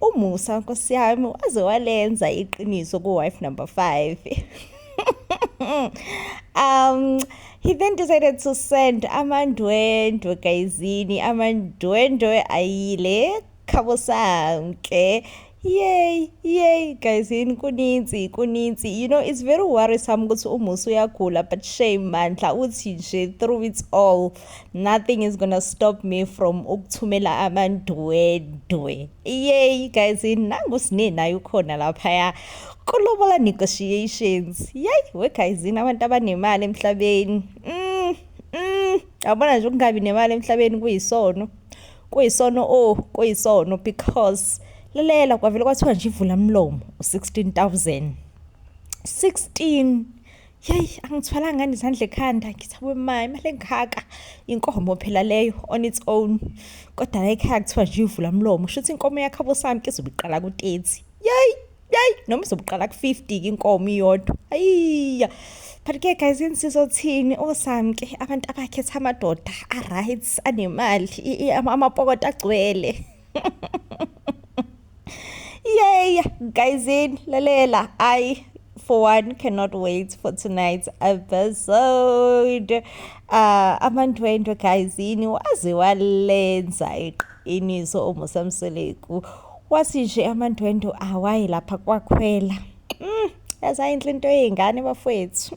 Umusa nkosi yami waze walenza iqiniso ku wife number 5. um he then decided to send amandwendwe gayizini amandwendwe ayile khabo sanke yay yay guys yini kuninzi kuninzi you know it's very worrisome ukuthi umusa uyagula but shame mandla uthi nje through it all nothing is gonna stop me from ukuthumela amandwedwe yey guys nangu sine naye ukhona laphaya kulobola negotiations yey we guys abantu abanemali emhlabeni mm, mm. abona nje ukungabi nemali emhlabeni kuyisono kuyisono o oh, kuyisono because lalela kwavele kwathiwa nje ivula mlomo u-16000 16 yeyi angithwalanga ngani izandla ekhanda ngithi aboma imali engaka inkomo phela leyo on its own kodwa la ekhaya kuthiwa nje ivula mlomo shuthi inkomo yakho abosami ke izobe iqala ku-thirty yeyi yeyi noma izobe iqala ku-fifty ke inkomo iyodwa ayiya but ke guys insizothini osami ke abantu abakhetha amadoda a-right anemali amapokota agcwele Yay, guys in lalela. I for one cannot wait for tonight's episode. Uh amandwendwe guys yini waze walenza iqiniso umusa mseleku. Wasi nje amandwendwe awayi lapha kwakhwela. Mm, yazayinhle into yezingane bafowethu.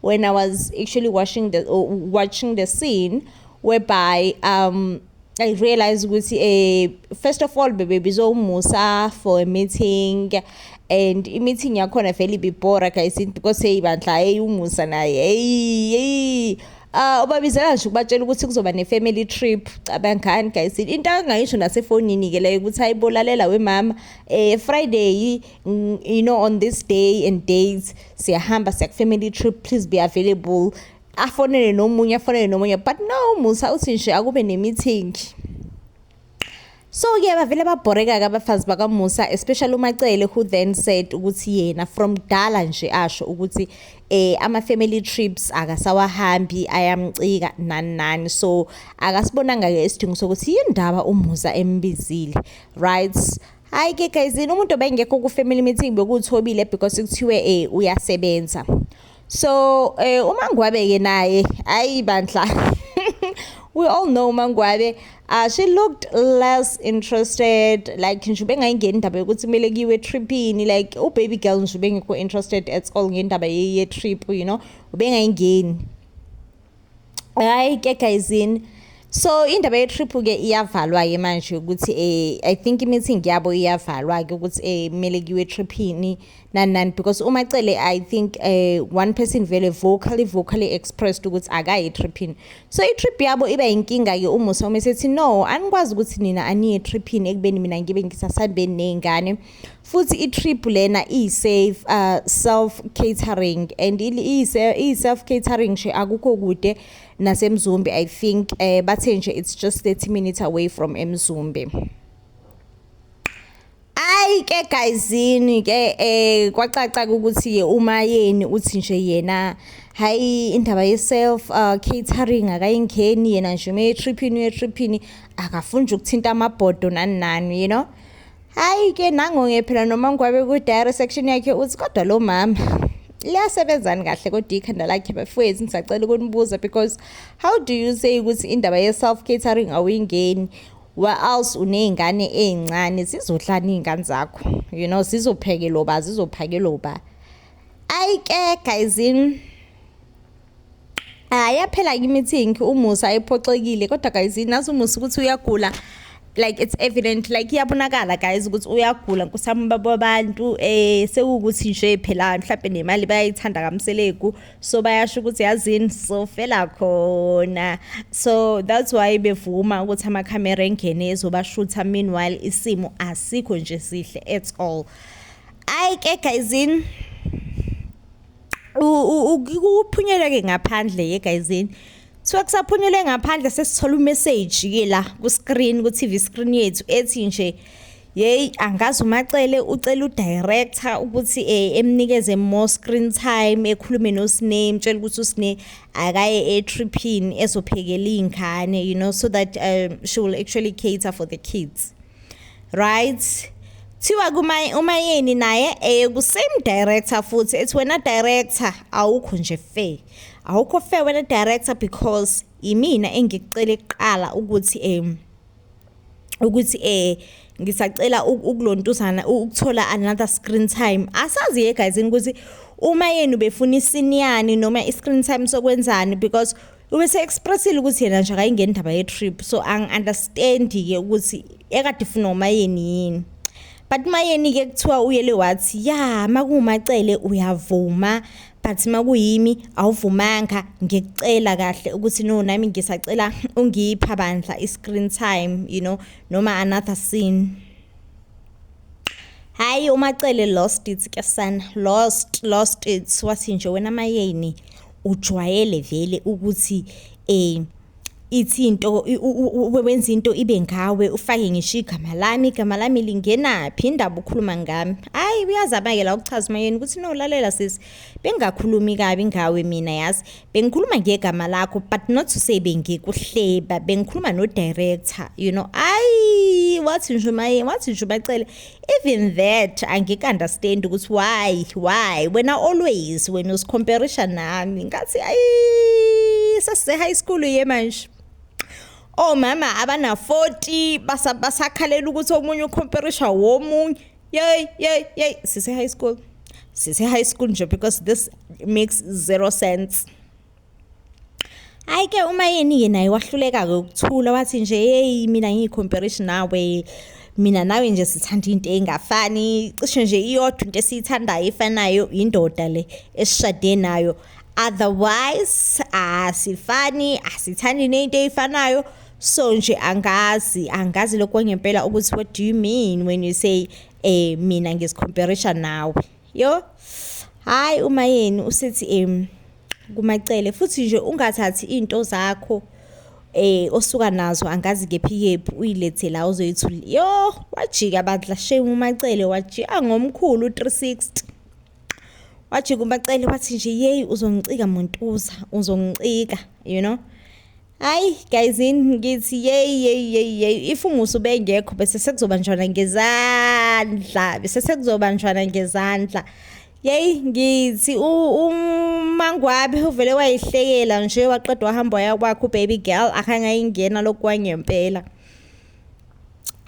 when I was actually watching the uh, watching the scene whereby um I realized ukuthi eh first of all bebe bizomusa for a meeting and i-meeting yakhona vele ibibhora guys because hey bandla hey umusa naye hey hey Ah uh, ubabizela nje ukubatshela ukuthi kuzoba ne family trip cabangani guys into angayisho nasefonini ke leyo ukuthi ayibolalela wemama eh Friday Mm, you know on this day and days siyahamba siya family trip please be available afonele nomunye afonele nomunye but no musa uthi nje akube ne-meeting so ke bavele babhoreka-ke abafazi bakamusa especially umacele who then said ukuthi yena from dala nje asho ukuthi eh ama-family trips akasawahambi ayamcika nani nani so akasibonanga-ke isidingo sokuthi yindaba umusa embizile right Hayi ke guys, umuntu obengekho ku family meeting bekuthobile because kuthiwe eh uyasebenza. So eh uMangwabe ke naye ayi bandla. we all know Mangwabe uh, she looked less interested like nje bengayingeni indaba yokuthi kumele kiwe tripini like u baby girl nje bengekho interested at all ngendaba ye trip you know ubengayingeni hayi ke guyzini so indaba ye-trip-ke iyavalwa-ke manje ukuthi um i think i-meeting yabo iyavalwa-ke ukuthi um kumele kuyiwe etriphini nani nani because umacele i think um one person vele vocally vocally expressed ukuthi akayi etriphini so i-trip yabo iba yinkinga-ke umusa uma esethi no anikwazi ukuthi nina aniye etriphini ekubeni mina ngibe ngisasabeni ney'ngane futhi i-trip lena iyi-safe uh, self catering and iyi-self catering nje akukho kude nasemzumbe i think um bathe nje it's just 30 minutes away from emzumbe ayi ke guyzini ke eh kwacaca ukuthi uma yeni uthi nje yena hayi indaba ye self uh, catering akayingeni yena nje ume triphini uye triphini akafuni ukuthinta amabhodo nani nani you know Hayi ke nangonge phela noma ngwabe ku diary section yakhe uthi kodwa lo mama liyasebenzani kahle kodwa ikhanda lakhe bafowethu ngisacela ukunibuza because how do you say ukuthi indaba ye self catering awuyingeni else uney'ngane ey'ncane zizodlani iy'ngane zakho you know zizophekelwa ba zizophakelwa ba ayi ke guyzini Ah yaphela kimi think umusa ephoxekile kodwa guys nazi umusa ukuthi uyagula like it's evident like iyabonakala guys ukuthi uyagula nkusami baba abantu eh sekukuthi nje phela mhlawumbe nemali bayayithanda kamseleku so bayasho ukuthi yazini so fela khona so that's why bevuma ukuthi ama camera engene ezobashutha meanwhile isimo asikho nje sihle at all ay ke guys in ukuphunyelwa ke ngaphandle ye guyzini so kusaphunyelwe ngaphandle sesithola umessage ke la ku screen ku TV screen yethu ethi nje yeyi angazi umacele ucela udirector ukuthi eh, emnikeze more screen time ekhulume nosine mtshela ukuthi usine akaye etriphini ezophekela iy'ngane you know so that um, she will actually cater for the kids right kuthiwa kuma umayeni naye eye ku same director futhi ethi wena director awukho nje fair awukho fair wena director because imina engikucela kuqala ukuthi em ukuthi eh ngisacela ukulontuzana ukuthola another screen time asazi ye guys ukuthi uma yenu befuna isiniyani noma i-screen time sokwenzani because ubese expressile ukuthi yena nje akayingeni indaba ye trip so ang understand ke ukuthi ekade funa umayeni yini but mayeni ke kuthiwa uyele wathi ya makumacele uyavuma but makuyimi awuvumanga ngikucela kahle ukuthi no nami ngisacela ungipha bandla i screen time you know noma another scene hayi umacele lost it ke sana lost lost it wathi nje wena mayeni ujwayele vele ukuthi eh ithi into wenza into ibe ngawe ufake ngisho igama lami igama lami lingenaphi indaba ukhuluma ngami hayi uyazabakela ukuchaza umayeni ukuthi no lalela sisi bengakhulumi kabi ngawe mina yazi bengikhuluma ngegama lakho but not to say bengikuhleba bengikhuluma no director you know ayi wathi nje umayeni wathi nje ubacele even that angikuunderstand ukuthi why why wena always when usicomparisha nami ngathi ayi sase high school ye manje omama oh, abana 40 basakhalela ukuthi omunye ucomparisha womunye yey yey yey sise high school sise high school nje because this makes zero sense Hhayi ke umayeni-ke naye wahluleka-ke ukuthula wathi nje yeyi mina ngiyikhomperishi nawe mina nawe nje sithanda into engafani cishe nje iyodwa into esiyithandayo efanayo indoda le esishade nayo otherwise asifani asithandi nento eyifanayo so nje angazi angazi lokho ngempela ukuthi what do you mean when you say eh mina ngizicomparison nawe yo hayi uma yeni usethi em kumacele futhi nje ungathathi into zakho eh osuka nazo angazi kephi kephi uyilethe la uzoyithula yo wajika bandla shame umacele wajika ngomkhulu 360 wajika umacele wathi nje yeyi uzongicika muntuza uzongicika you know Hayi guys ngithi yeyi yeyi yeyi yeyi if umusa ubengekho bese sekuzobanjwana ngezandla bese sekuzobanjwana ngezandla yeyi ngithi umangwabe uvele wayihlekela nje waqeda wahamba waya kwakhe ubaby girl akangayingena lokhu kwangempela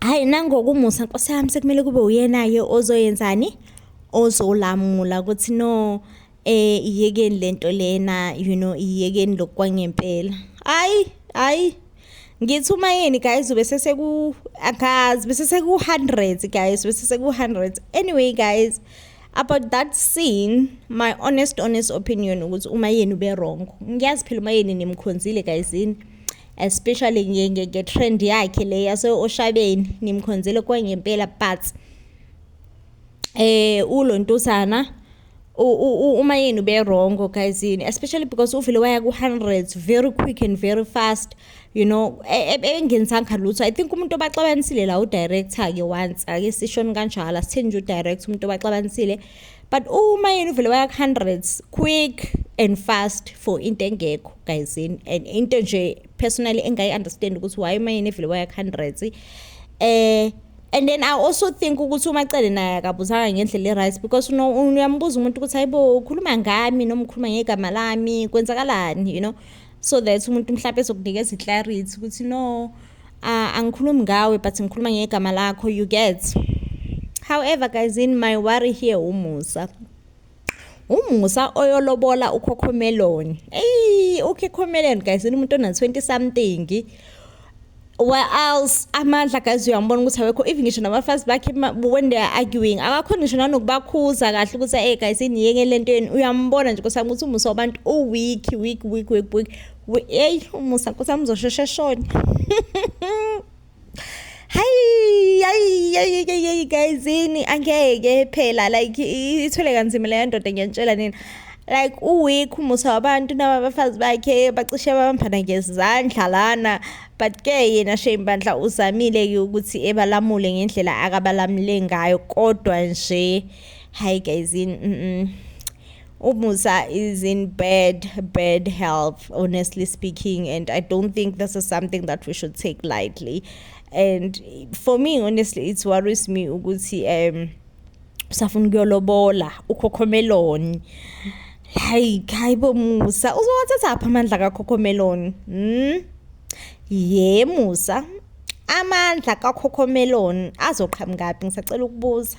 hayi nangokumusa nkosi yami sekumele kube uyena-ke ozoyenzani ozolamula ukuthi no Eh iyekeni lento lena you know iyekeni lokwangempela. Hayi hayi ngithi uma yini guys ube seseku akazi bese seku 100 guys bese seku 100 anyway guys about that scene my honest honest opinion ukuthi uma yini ube wrong ngiyazi phela uma yini nimkhonzile guys yini especially ngiye nge trend yakhe le yase oshabeni nimkhonzile kwangempela but eh ulontosana uma yini ube wrong guys yini especially because uvele waya ku-hundreds very quick and very fast you know e, e, engenisanga lutho i think umuntu obaxabanisile la udirector-ke once ake sishoni kanjalo asitheni nje udirector umuntu obaxabanisile but uma yini uvele waya ku-hundreds quick and fast for into engekho guys yini and into nje personally engayi-understand ukuthi why uma yini evele waya ku-hundreds um eh, and then i also think ukuthi umacele naye akabuzanga ngendlela e-right because uyambuza umuntu ukuthi hayibo ukhuluma ngami noma ukhuluma ngegama lami kwenzakalani you know so that umuntu mhlawumpe ezokunikeza i-clarity ukuthi no uh, angikhulumi ngawe but ngikhuluma ngegama lakho you get however guys in my worry here umusa umusa oyolobola ukhokhomeloni eyi ukhokhomeloni guys umuntu ona 20 something where else amandla guys uyambona ukuthi awekho even ngisho nabafazi bakhe when they are arguing akakhona ngisho nanokubakhuza kahle ukuthi hey guys iniyeke lento yenu uyambona nje kusami ukuthi umusa wabantu u weak weak weak weak weak hey umusa kusami uzosheshe shona hayi hayi hayi hayi guys yini angeke phela like ithwele kanzima leyo ndoda ngiyantshela nini like uweek umusa wabantu naba abafazi bakhe bacishe babambana ngezandla lana but ke yena shame bandla uzamile ke ukuthi ebalamule ngendlela akabalamule ngayo kodwa nje hayi guys mm, -mm. Umusa is in bad, bad health, honestly speaking, and I don't think this is something that we should take lightly. And for me, honestly, it worries me ukuthi um usafuna ukuyolobola ukhokhomeloni like hayibo musa uzowathatha apha amandla kakhokhomeloni mm? ye musa amandla kakhokhomeloni azoqhamukaphi ngisacela ukubuza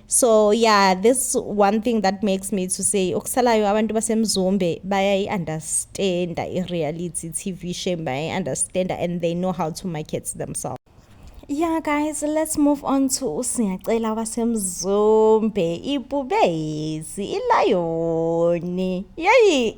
so yeah this one thing that makes me to say okusalayo abantu basemzombe bayayi-understanda i-reality tv shame bayayi-understanda and they know how to market themselves yeah guys let's move on to usingacela wasemzombe ibhubesi ilayoni yeyi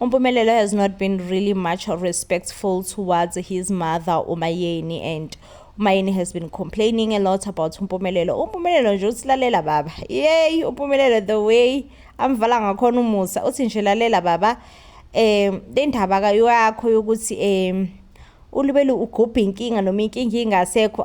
Umpumelelo has not been really much respectful towards his mother uMayeni and uMayeni has been complaining a lot about uMpumelelo. UMpumelelo nje uthi lalela baba. Yey uMpumelelo the way amvala ngakhona umusa uthi nje lalela baba eh le ndaba ka yakho yokuthi eh ulibele ugubha inkinga noma inkinga ingasekho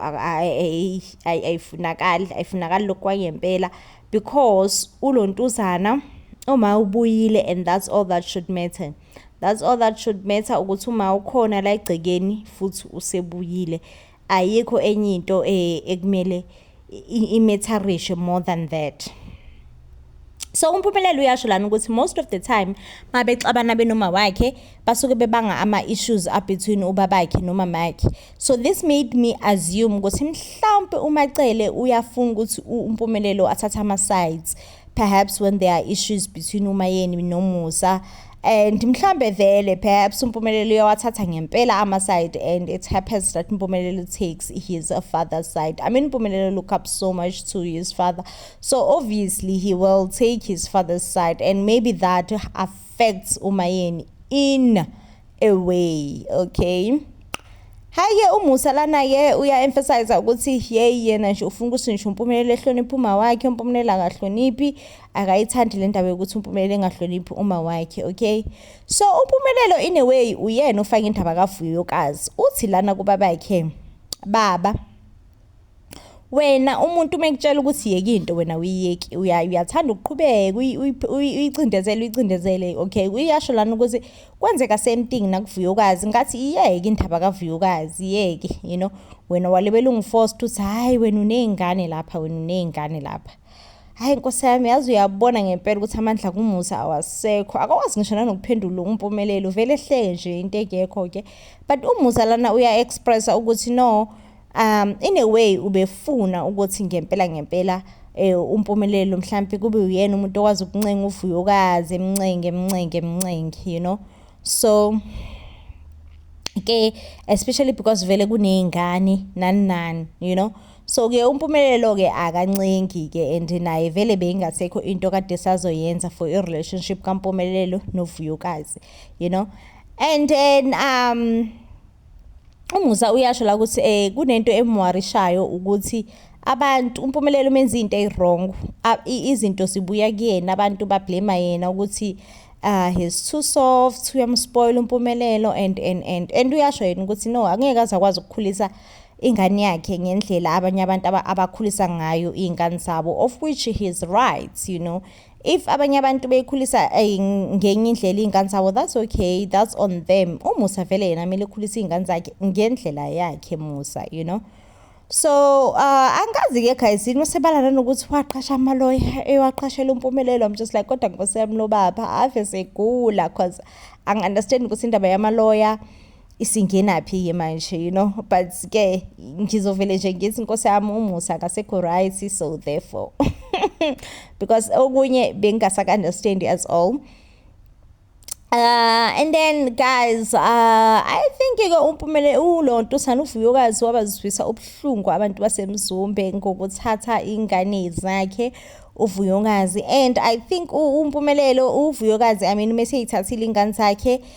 ayifunakali ayifunakali lokhu kwangempela because ulontuzana uma ubuyile and that's all that should matter that's all that should matter ukuthi uma ukhona la egcekeni futhi usebuyile ayikho enye into eh, ekumele imetharishe more than that so umphumelelo uyasho lana ukuthi most of the time mabexabana benoma wakhe basuke bebanga ama-issues abetween ubabakhe nomamakhe so this made me assume ukuthi mhlawumpe umacele uyafuna ukuthi umpumelelo athathe ama-sides perhaps when there are issues between umayeni nomusa and mhlambe vele perhaps umpumelelo uyawathatha ngempela ama-side and it happens that umpumelelo takes his father side i mean umpumelelo look up so much to his father so obviously he will take his father's side and maybe that affects facts umayeni in a way okay hayi-ke umusa lana-ke uya-emphasize ukuthi yeyi yena nje ufuna ukuthi ngisho umpumelelo ehloniphe uma wakhe umpumelelo akahloniphi akayithandi le ndaba yokuthi umpumelelo engahloniphi uma wakhe okay so umpumelelo in a way uyena ofake indaba kavuyokazi uthi lana kubabakhe baba wena umuntu uma ekutshela ukuthi yeke into wena uyiyeki uyathanda ukuqhubeka uyicindezele uyicindezele okay uyasho lana ukuthi kwenzeka same thing nakuvuyokazi ngathi iyeke indaba kavuyokazi iyeke you know wena walibela ungiforce ukuthi hhayi wena uney'ngane lapha wena uney'ngane lapha hhayi nkosi yami yazi uyabona ngempela ukuthi amandla kumusa awasekho akakwazi ngisho nanokuphendula umpumelelo vele ehleke nje into ekekho-ke but umusa lana uya-expressa ukuthi no Um in a way ubefuna ukuthi ngempela ngempela eh umpumelelo mhlambi kube uyena umuntu okwazi ukuncenga uvuyokazi emncenge emncenge emncenge you know so ke especially because vele kunezingane nani nani you know so ke umpumelelo ke akancengi ke and naye vele beyingasekho into kade sazoyenza for i relationship kampumelelo novuyokazi you know and then um uMusa uyasho la ukuthi eh kunento emwarishayo ukuthi abantu umpumelelo umenza into eyiwrong izinto sibuya kuyena abantu bablema yena ukuthi uh he's too soft uyamspoil umpumelelo and and and and uyasho yena ukuthi no angeke aze akwazi ukukhulisa ingane yakhe ngendlela abanye abantu abakhulisa ngayo iy'ngane zabo of which he is right you know if abanye abantu beyikhulisa eh, ngenye indlela iy'ngane zabo that's okay that's on them umusa vele yena kumele ekhulisa iy'ngane zakhe ngendlela yakhe musa you know so uh, angazi-ke guys yini usebala nanokuthi waqasha amaloya ewaqashela umpumelelo i'm just like kodwa nkosi yami lobaba ave segula cause angi-understand ukuthi indaba yamaloya isingenaphi ke manje you know but ke ngizovele nje ngithi inkosi yami umusa akasekho right so therefore because okunye bengingasaka understand as all Uh, and then guys uh, i think ke umpumele ulonto sana uvuyokazi wabaziswisa ubuhlungu abantu basemzumbe ngokuthatha ingane zakhe uvuyokazi and i think umpumelelo uvuyokazi i mean uma seyithathile ingane zakhe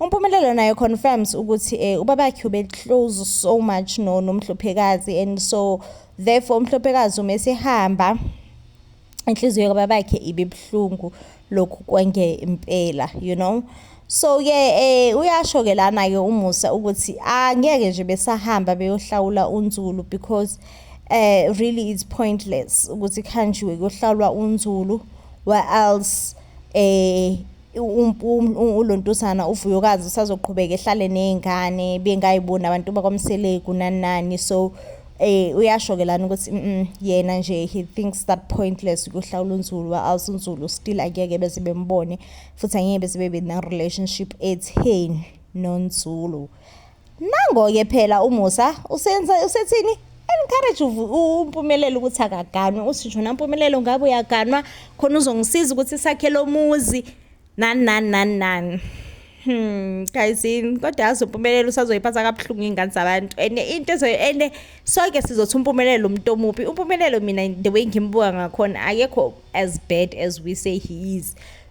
Umpumelelo naye confirms ukuthi eh, ubabakhe ube close so much no nomhluphekazi and so therefore umhluphekazi uma esehamba inhliziyo kababakhe ibe buhlungu lokhu kwenge impela you know so ke eh uyasho ke lana ke umusa ukuthi angeke ah, nje besahamba beyohlawula unzulu because eh really it's pointless ukuthi khanjiwe kuyohlawulwa unzulu where else eh ulontusana uvuyokazi usazoqhubeka ehlale nezingane bengayiboni abantu bakwamseleku nanani so eh uyasho ke lana ukuthi yena nje he thinks that pointless ukuhlawula unzulu also unzulu still akeke bese bembone futhi angeke bese bebe ne relationship etheni nonzulu Nango-ke phela uMusa usenza usethini encourage umpumelelo ukuthi akaganwe usisho nampumelelo ngabe uyaganwa khona uzongisiza ukuthi sakhe lo muzi nani nani nani nani Hmm guys kodwa yazi umpumelelo usazoyiphatha kabuhlungu ingane zabantu and into ezo and sonke sizothi umpumelelo umuntu omubi umpumelelo mina the way ngimbuka ngakhona akekho as bad as we say he is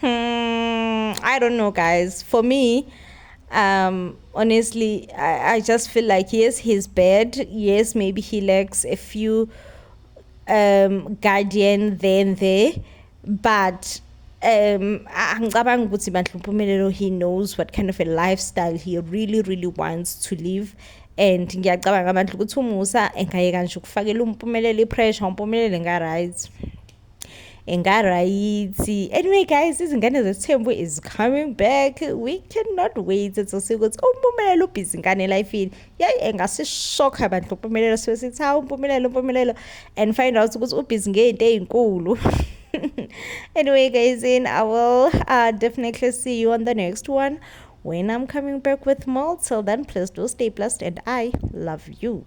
Hmm, I don't know, guys. For me, um, honestly, I, I just feel like yes, he's bad. Yes, maybe he lacks a few um, guardian then there, but um angicabanga ukuthi bandla umpumelelo he knows what kind of a lifestyle he really really wants to live and ngiyacabanga bandla ukuthi umusa engayeka nje ukufakela umpumelelo ipressure umpumelele nga right engarayithi anyway guys izingane zesithembu is coming back we cannot wait sosiya ukuthi umpumelelo ubhizi ngane elifini yayi engasishokha abantu umpumelelo sibe sithi hawu umpumelelo umpumelelo and find out ukuthi ubhizi ngeyinto eyinkulu anyway guys in i will uh, definitely see you on the next one when i'm coming back with more till then please do stay blessed and i love you